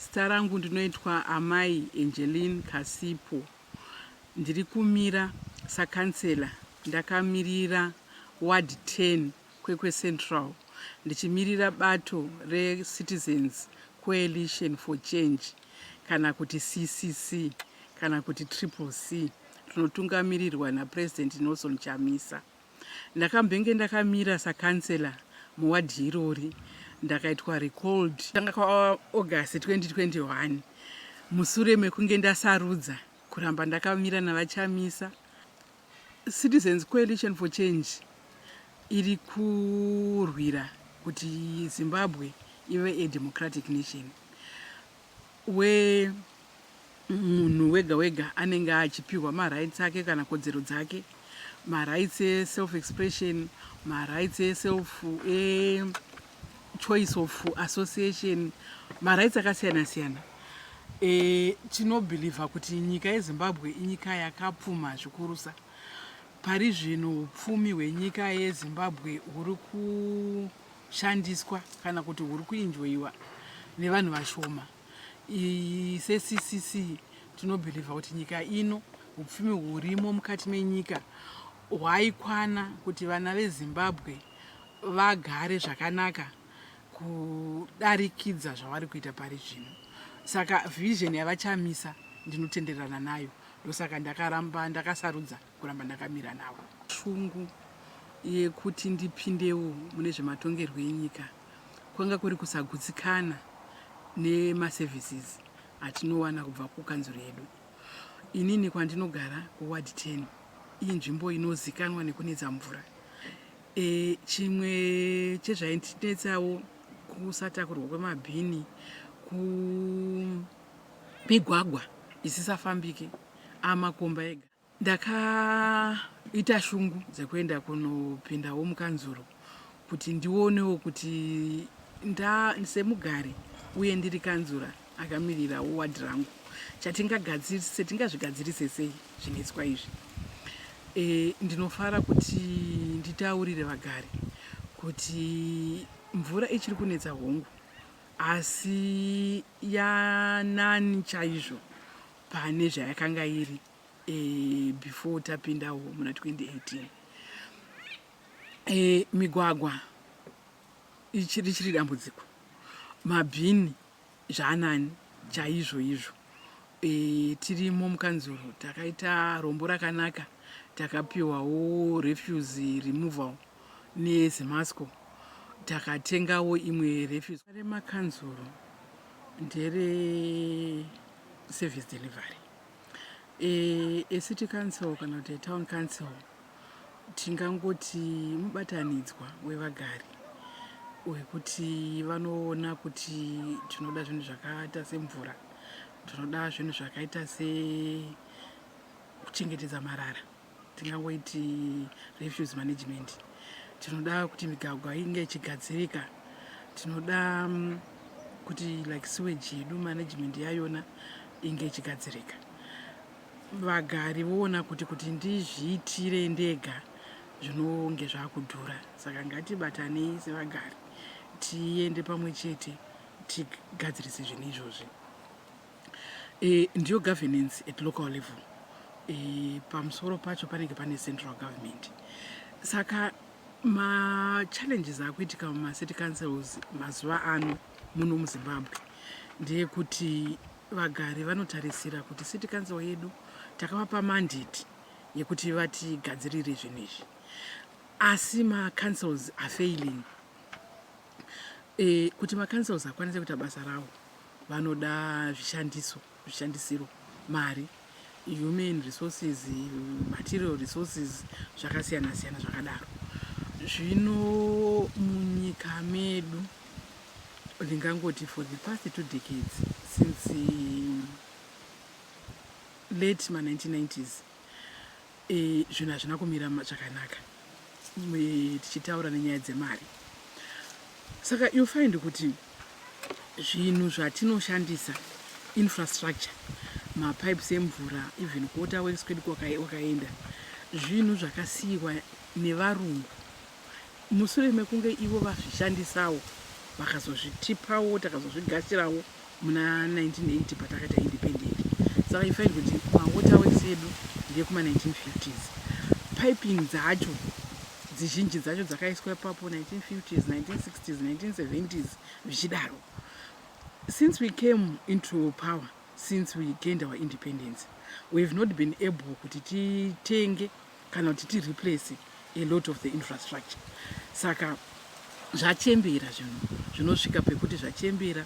Zita rangu ndinoitwa Amai Angeline Kasipo. Ndiri kumira sakhansela ndakamirira ward 10 Kwekwe Central ndichimirira bato reCitizens Coalition for Change kana kuti CCC kana kuti Triple C rinotungamirirwa naPresident Nelson Chamisa. Ndakambenge ndakamira sa councillor mu ward irori ndakaitwa recalled kutanga kwa August 2021 musure mekunge ndasarudza kuramba ndakamira nava Chamisa. Citizens Coalition for Change iri kurwira kuti Zimbabwe ive a democratic nation. we munhu wega wega anenge achipihwa ma rights ake kana kodzero dzake ma rights e self expression ma rights e self e choice of association ma rights akasiyana siyana e, tinobhilivha kuti nyika yezimbabwe inyika yakapfuma zvikurusa pari zvino upfumi hwenyika yezimbabwe huri ku shandiswa kana kuti huri kuinjoiwa nevanhu vashoma seccc tinobhilivha kuti nyika ino upfumi hurimo mukati menyika hwaikwana kuti vana vezimbabwe vagare zvakanaka kudarikidza zvavari kuita pari zvino saka vision yavachamisa ndinotenderana nayo ndosaka ndakaramba ndakasarudza kuramba ndakamira navo. Shungu yekuti ndipindewo mune zvematongerwo enyika kwanga kuri kusagutsikana nemaservices atinowana kubva kukanzuru yedu. Inini kwandinogara kuward 10 iyi nzvimbo inozikanwa nekunetsa mvura. E, chimwe chezvainetsawo kusatakurwa kwemabhini kumigwagwa isisafambike amakomba ega. Ndakaita shungu dzekuenda kunopindawo mukanzuru kuti ndionewo kuti nda semugari uye ndiri kanzura akamirirawo wadhi rangu chatingagadzirise tingazvigadzirise sei zvinetswa izvi e, ndinofara kuti nditaurire vagari kuti mvura ichiri kunetsa hongu asi yanani chaizvo pane zvayakanga iri e, before tapindawo muna 2018 e, eh, migwagwa ichiri chiri dambudziko mabhini zvanani chaizvo izvo e, tirimo mukanzuro takaita rombo rakanaka takapiwawo refuse removal nezemasco takatengawo imwe refuse remakanzuro ndere service delivery e, ecity council kana kuti etown council tingangoti mubatanidzwa wevagari wekuti vanoona kuti tinoda zvinhu zvakaita semvura tinoda zvinhu zvakaita sekuchengetedza marara tingangoiti refuse management tinoda kuti migagwa inge ichigadzirika tinoda mm, kuti like sewage yedu management yayona inge ichigadzirika vagari voona kuti kuti ndizviitire ndega zvinonge zvakudhura saka ngatibatanei sevagari tiende pamwe chete tigadzirise zvinhu izvozvi E, ndiyo governance at local level e, pamusoro pacho panenge pane central government saka machallenges akuitika mumacity councils mazuva ano muno muzimbabwe ndeyekuti vagari vanotarisira kuti city council yedu takavapa mandate yekuti vatigadzirire zvinhu izvi asi macouncils are failing Eh, kuti maCouncils akwanise kuita basa rawo vanoda zvishandiso, zvishandisiro, mari, human resources, material resources zvakasiyana siyana zvakadaro. Zvino munyika medu ndingangoti for the past two decades since late ma 1990s E, zvinhu hazvina kumira zvakanaka tichitaura nenyaya dzemari saka you find kuti zvinhu zvatinoshandisa infrastructure mapipes emvura even kuota works kwedu kwakaenda zvinhu zvakasiyiwa nevarungu musure mekunge ivo vazvishandisawo vakazozvitipawo takazozvigashirawo muna 1980 patakaita independent saka you find kuti mawaterworks edu ndekuma 1950s piping dzacho dzizhinji dzacho dzakaiswa ipapo 1950s 1960s 1970s zvichidaro since we came into power since we gained our independence we have not been able kuti titenge kana kuti ti replace a lot of the infrastructure saka zvachembera zvinhu zvinosvika pekuti zvachembera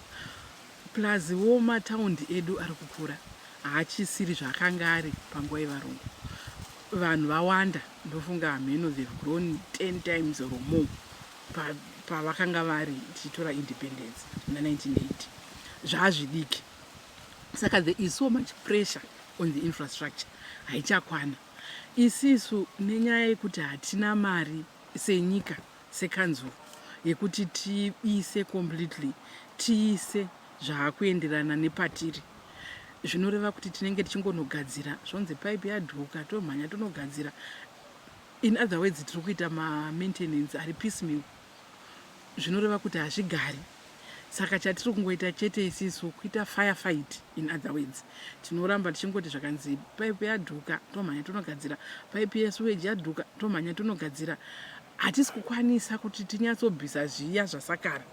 plus wo mataundi edu ari kukura haachisiri zvaakanga ari panguva yevarungu vanhu vawanda ndofunga hameno they've grown 10 times or more pavakanga pa vari tichitora independence muna 1980 zvaazvidiki saka there is so much pressure on the infrastructure haichakwana Isisu nenyaya yekuti hatina mari senyika sekanzuru yekuti tiise completely tiise zvaakuenderana nepatiri zvinoreva kuti tinenge tichingonogadzira zvonzi pipe yadhuka tomhanya tonogadzira in other words tiri kuita ma maintenance ari piece meal zvinoreva kuti hazvigari saka chatiri kungoita chete isisu kuita fire fight in other words tinoramba tichingoti zvakanzi pipe yadhuka tomhanya tonogadzira pipe yesuweji yadhuka tomhanya tonogadzira hatisi kukwanisa kuti tinyatsobvisa zviya zvasakara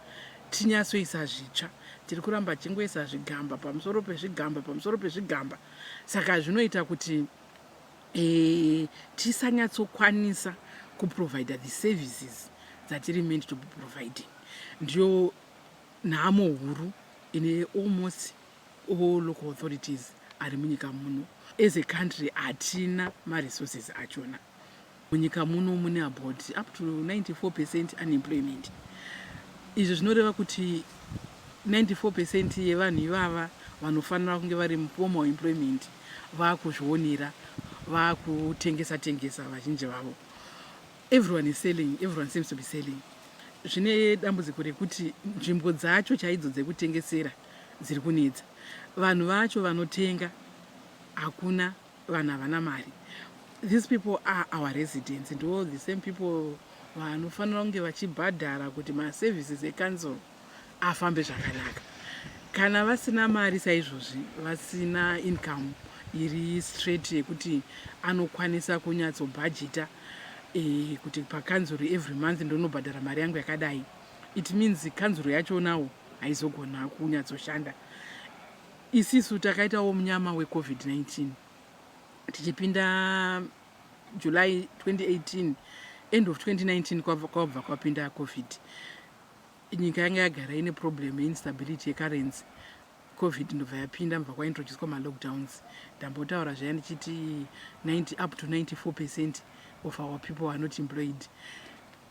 tinyatsoisa zvitsva tiri kuramba tichingoisa zvigamba pamusoro pezvigamba pamusoro pezvigamba saka zvinoita kuti Eh, tisanyatsokwanisa kuprovider the services dzatiri meant to be providing ndiyo nhamo huru ine almost all local authorities ari munyika muno as a country hatina maresources achona munyika muno mune about up to 94 percent unemployment izvi zvinoreva kuti 94 percent yevanhu ivava vanofanira kunge vari muformal employment vakuzvionera vakutengesa tengesa vazhinji vavo everyone is selling everyone seems to be selling zvine dambudziko rekuti nzvimbo dzacho chaidzo dzekutengesera dziri kunetsa vanhu vacho vanotenga hakuna vanhu havana mari these people are our residents ndo the same people vanofanira kunge vachibhadhara kuti maservices ecouncil afambe zvakanaka kana vasina mari saizvozvi vasina income iri straight yekuti anokwanisa kunyatsobhajita e, kuti pakanzuru every month ndonobhadhara mari yangu yakadai it means kanzuru yachonawo haizogona kunyatsoshanda isisu takaitawo munyama wecovid-19 tichipinda july 2018 end of 2019 kwabva kwapinda covid Nyika yanga yagara ine problem yeinstability yecurrency covid ndobva yapinda mubva kwaintroducwa malockdowns ndambotaura zvaya ndichiti 90 up to 94 percent of our people are not employed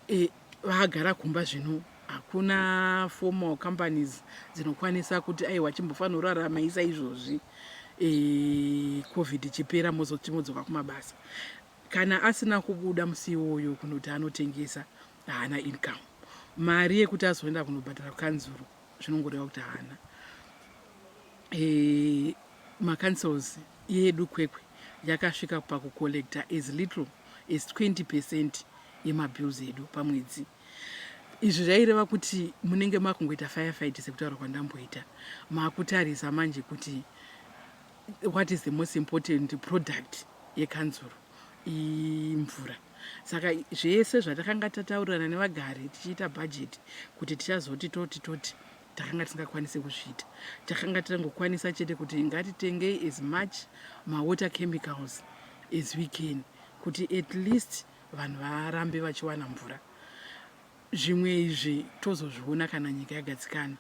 e, vagara kumba zvino hakuna formal companies dzinokwanisa kuti aiwa chimbofanira urarama isa izvozvi e, covid ichipera mozoti modzoka kumabasa kana asina kubuda musi iwoyo kunoti anotengesa haana income mari yekuti azoenda kunobhadhara kukanzuru zvinongoreva kuti haana e, eh, macancels yedu kwekwe yakasvika pakucollecta as little as 20 percent yemabills edu pamwedzi izvi zvaireva kuti munenge makungoita firefight sekutaura kwandamboita makutarisa manje kuti what is the most important product yekanzuru imvura saka zvese zvatakanga tataurirana nevagari tichiita bhajeti kuti tichazoti toti toti takanga tisingakwanisi kuzviita takanga tirangokwanisa chete kuti ngatitengei as much mawater chemicals as we can kuti at least vanhu varambe vachiwana mvura zvimwe izvi tozozviona kana nyika yagadzikana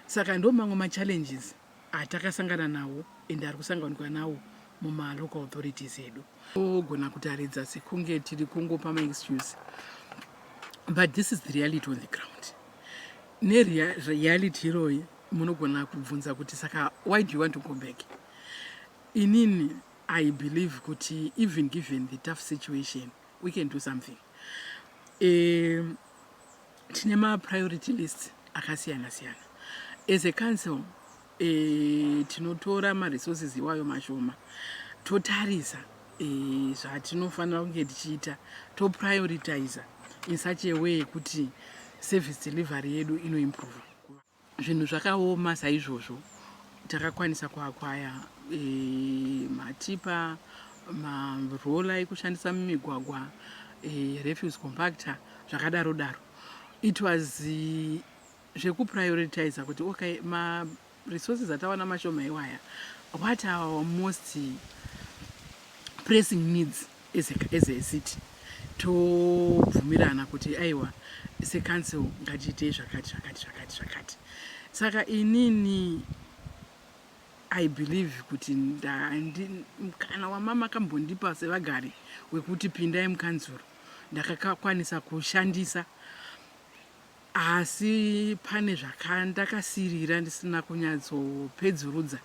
saka ndo mamwe machallenges atakasangana nawo and ari kusanganikwa nawo mumalocal authorities edu ogona kutaridza sekunge tiri kungopa maexcuse but this is the reality on the ground nereality iroyi munogona kubvunza kuti saka why do you want to go back inini i believe kuti even given the tough situation we can do something um, tine mapriority list akasiyana siyana as a council e, tinotora maresources iwayo mashoma totarisa e, zvatinofanira kunge tichiita toprioritiza in such a way yekuti service delivery yedu inoimprova Zvinhu zvakaoma saizvozvo takakwanisa kuakwaya e, matipa marola ekushandisa mumigwagwa e, refuse compactor zvakadaro daro it was eh, zvekuprioritiza kuti okay maresources atawana mashoma iwaya what our most pressing needs as a, as a city tobvumirana kuti aiwa secouncil ngatiitei zvakati zvakati zvakati zvakati saka inini i believe kuti mukana wamama akambondipa sevagari wekuti pindai mukanzuro ndakakwanisa kushandisa Asi pane zvakandakasirira ndisina kunyatsopedzurudza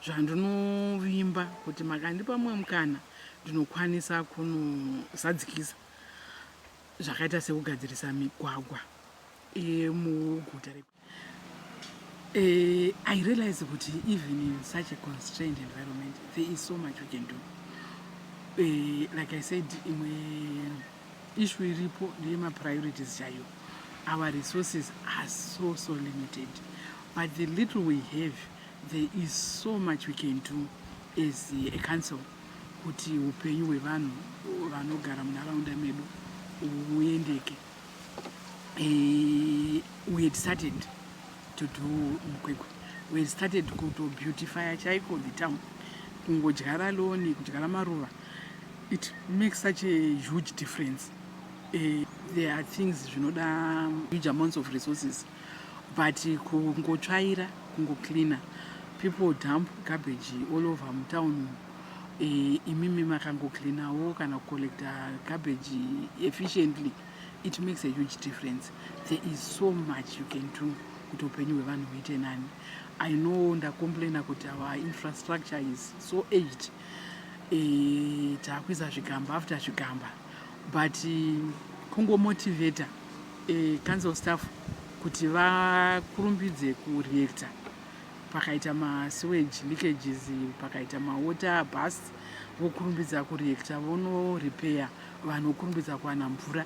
zvandinovimba kuti makandipa mumwe mukana ndinokwanisa kunozadzikisa zvakaita sekugadzirisa migwagwa yemuguta reku Uh, I realize kuti even in such a constrained environment, there is so much we can do. Uh, like I said, imwe Issue iripo ndeyema priorities chaiyo. Our resources are so so limited but the little we have there is so much we can do as a council kuti upenyu hwevanhu vanogara munharaunda medu uendeke. E, we had started to do mukwekwe we had started kuto beautify chaiko the town kungodyara loni kudyara maruva it makes such a huge difference uh, there are things zvinoda huge amounts of resources but kungotsvaira kungocleaner people dump garbage all over mutown eh, imimi makangocleanawo kana kucollecta garbage efficiently it makes a huge difference there is so much you can do kuti upenyu hwevanhu huite nani i know ndacomplaina kuti our infrastructure is so aged eh, takuisa zvigamba after zvigamba but kungomotivata eh, council staff kuti vakurumbidze kureactor pakaita masewage leakages pakaita mawater bus vokurumbidza kureactor vonorepair vanhu vokurumbidza kuwana mvura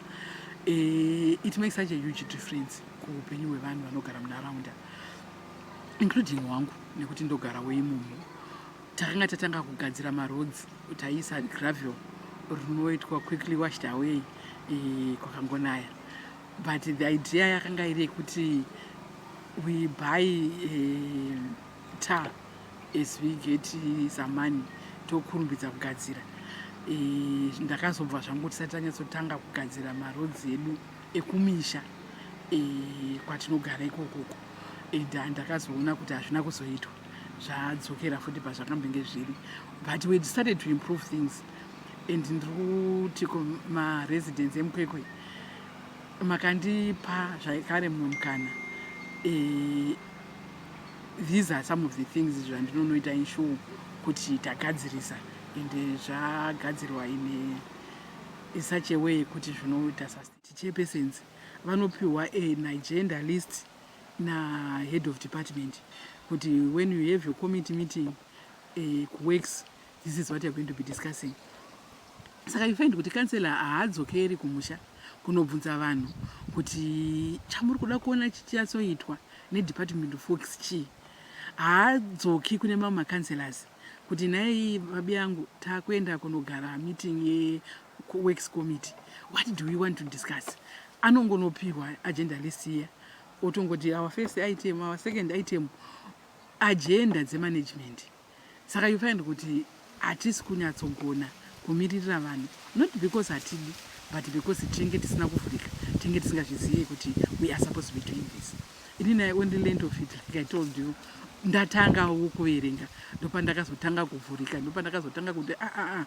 eh, it makes such a huge difference kuupenyu hwevanhu vanogara munharaunda including wangu nekuti ndogara weimomo takanga tatanga kugadzira maroads taiisa gravel rinoitwa quickly washed away eh, kwakangonaya but the idea yakanga iri yekuti we buy eh, tar as we get some money tokurumbidza kugadzira eh, ndakazobva zvangu tisati tanyatsotanga kugadzira maroads edu ekumisha kwatinogara ikokoko Ida ndakazoona kuti hazvina kuzoitwa zvadzokera futi pazvakambenge zviri but we decided to improve things and ndiri kuti kumaresidence emukwekwe makandipa zvaikare mumwe mukana e, these are some of the things zvandinonoita insure kuti tagadzirisa and zvagadzirwa in such a way kuti zvinoita sustain Chichairpersons vanopiwa a nagenda list na head of department kuti when you have your committee meeting eh, kuworks this is what you're going to be discussing saka you find kuti kansela haadzokeri kumusha kunobvunza vanhu kuti chamuri kuda kuona chichiyatsoitwa nedepartment of works chii haadzoki kune mamwe macancelors kuti nhai babi yangu takuenda kunogara meeting kuworks committee what do we want to discuss anongonopihwa agenda list iya otongoti our first item our second item agenda dzemanagement saka you find kuti hatisi kunyatsogona kumiririra vanhu not because hatidi but because tinenge tisina kuvhurika tinenge tisingazvizivi kuti we are supposed to be doing this inini i only land of it like i told you ndatangawo kuverenga ndopandakazotanga kuvhurika ndopandakazotanga kuti aa ah, ah, ah.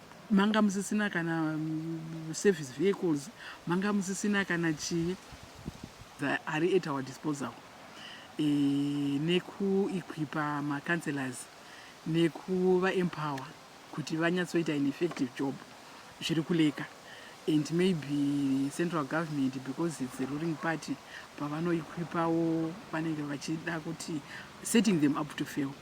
manga musisina kana mm, service vehicles manga musisina kana chii ari at our disposal e, nekuequipa macounselors nekuvaempower kuti vanyatsoita an effective job zviri kuleka and maybe central government because its a ruling party pavanoequipawo vanenge vachida kuti setting them up to fail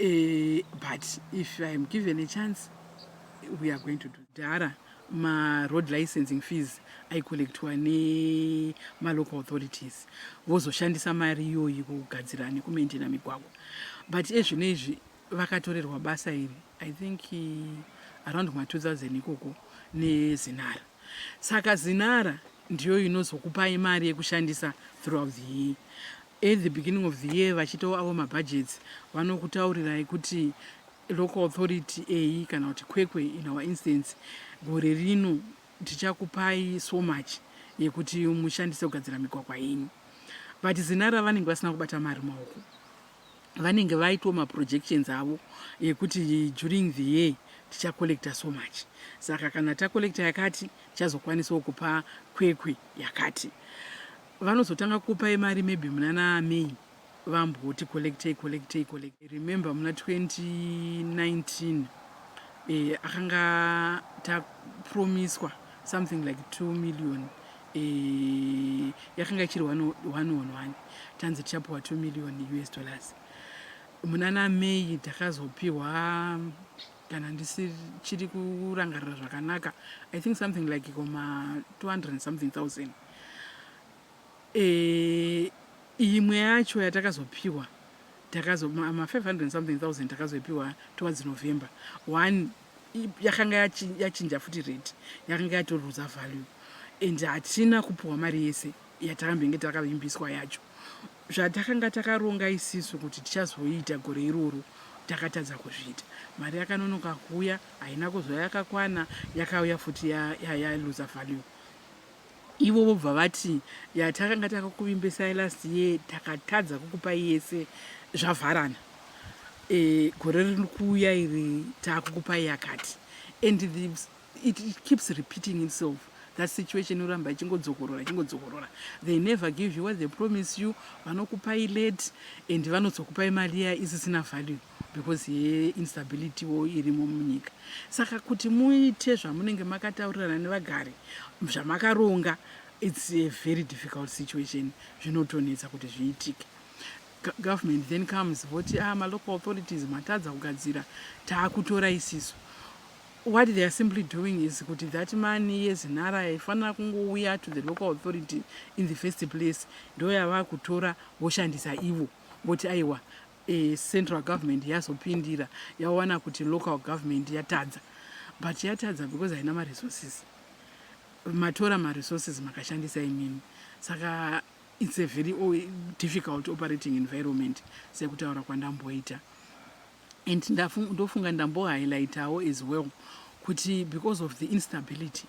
uh, but if i am given a chance we are going to do dhara maroad licensing fees aicollectwa nemalocal authorities vozoshandisa mari iyoyi kugadzira nekumaintena migwagwa but ezvino izvi vakatorerwa basa iri i think eh, around ma 2000 ikoko nezinara Saka zinara ndiyo inozokupai mari yekushandisa throughout the year. At the beginning of the year vachitawo avo mabudgets vanokutaurirai kuti local authority eyi kana kuti kwekwe in our instance gore rino tichakupai so much yekuti mushandise kugadzira migwagwa yenyu but zinara vanenge vasina kubata mari maoko vanenge vaitwa maprojections avo ekuti during the year tichacollecta so much saka kana tacollecta yakati tichazokwanisawo kupa kwekwe yakati vanozotanga kupai mari maybe munana may vamboti collectei collectei collectei remember muna 2019 eh, akanga tapromiswa something like 2 million yakanga ichiri 111 tanzi tichapiwa 2 million us dollars munana may takazopiwa kana ndisichiri kurangarira zvakanaka i think something like koma 200 something thousand e, imwe yacho yatakazopiwa takazo ma 500 something thousand takazoipiwa towards november one yakanga yachinja futi rate yakanga yatoruza value and hatina kupiwa mari yese yatakambenge takavimbiswa yacho zvatakanga takaronga isisu kuti tichazoita gore iroro takatadza kuzviita mari yakanonoka kuuya haina kuzova yakakwana yakauya futi yaluza value Ivo vobva vati yatakanga takakuvimbisai last year takatadza kukupai yese zvavharana gore riri kuuya iri takukupai yakati and the, it, it keeps repeating itself that situation inoramba ichingodzokorora ichingodzokorora they never give you what they promise you vanokupai late and vanozokupai mari iya isisina value because yeinstability wo irimo munyika saka kuti muite zvamunenge makataurirana nevagari zvamakaronga its a very difficult situation zvinotonetsa kuti zviitike government then comes voti ah malocal authorities matadza kugadzira taakutora isiso what they are simply doing is kuti that money yezinhara yaifanira kungouya to the local authority in the first place ndoyavakutora voshandisa ivo voti aiwa Central government yazopindira yawana kuti local government yatadza but yatadza because haina maresources matora maresources makashandisa imimi saka it's a very difficult operating environment sekutaura kwandamboita and ndofunga ndambohighlightawo as well kuti because of the instability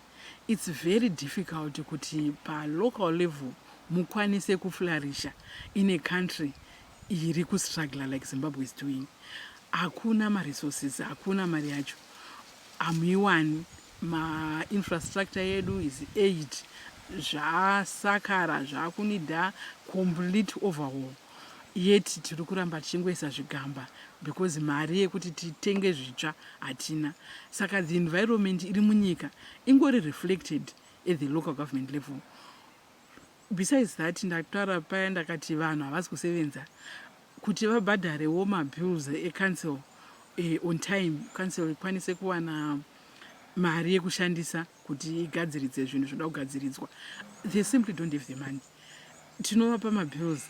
it's very difficult kuti palocal level mukwanise kuflarisha in a country iri kustruggler like zimbabwe is doing hakuna maresources hakuna mari yacho hamuiwani mainfrastructure yedu is aid zvasakara zvakunida complete overhaul yet tiri kuramba tichingoisa zvigamba because mari yekuti titenge zvitsva hatina saka the environment iri munyika ingori reflected at the local government level Besides that ndakutaura paya ndakati vanhu havasi kusevenza kuti vabhadharewo mabills ecouncil eh, on time council ikwanise kuwana mari yekushandisa kuti igadziridze zvinhu zvinoda kugadziridzwa they simply don't have the money tinovapa mabills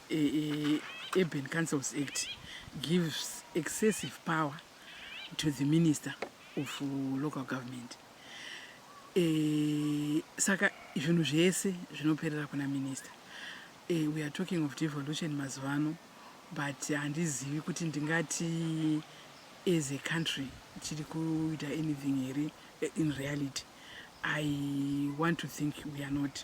Urban Councils Act gives excessive power to the minister of local government. E, saka zvinhu zvese zvinoperera kuna minister. E, we are talking of devolution mazuvano but handizivi uh, kuti ndingati as a country tiri kuita anything here eh, in reality. I want to think we are not.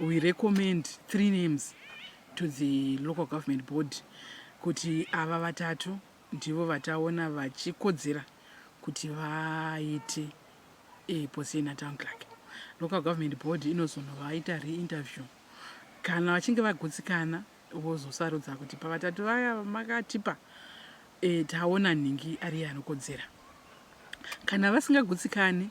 we recommend three names to the local government board kuti ava vatatu ndivo vataona vachikodzera kuti vaite e, position atown clark local government board inozonovaita reinterview kana vachinge vagutsikana vozosarudza kuti pavatatu vaya makatipa e, taona nhingi ariye anokodzera kana vasingagutsikani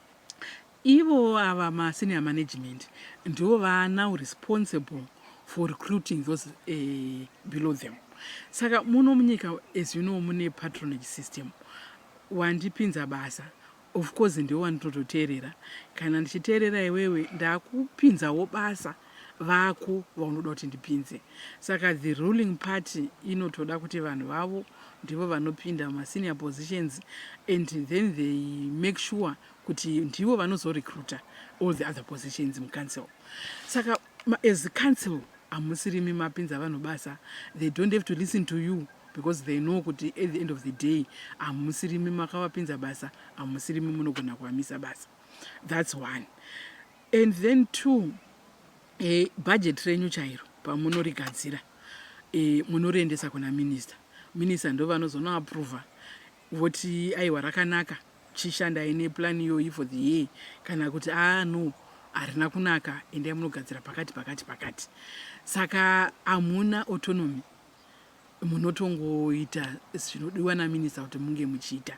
Ivo ava ma senior management ndivo vaa now responsible for recruiting those below them. Saka muno munyika as you know mune patronage system. Wandipinza basa of course ndiwe wandinototeerera. Kana ndichiteerera iwewe ndakupinzawo basa. vako vaunoda kuti ndipinze saka the ruling party inotoda kuti vanhu vavo ndivo vanopinda mumasenior positions and then they make sure kuti ndivo vanozorecruita all the other positions mucouncil saka as a council hamusirimi mapinza vanhu basa they don't have to listen to you because they know kuti at the end of the day hamusirimi makavapinza basa hamusirimi munogona kuvamisa basa that's one And then two, e, budget renyu chairo pamunorigadzira e, munoriendesa kuna minister. Minister ndo vanozonoaprova voti aiwa rakanaka chishandai neplan iyoyi for the year kana kuti aa ah, no harina kunaka endai munogadzira pakati pakati pakati saka hamuna autonomy munotongoita zvinodiwa naminista kuti munge muchiita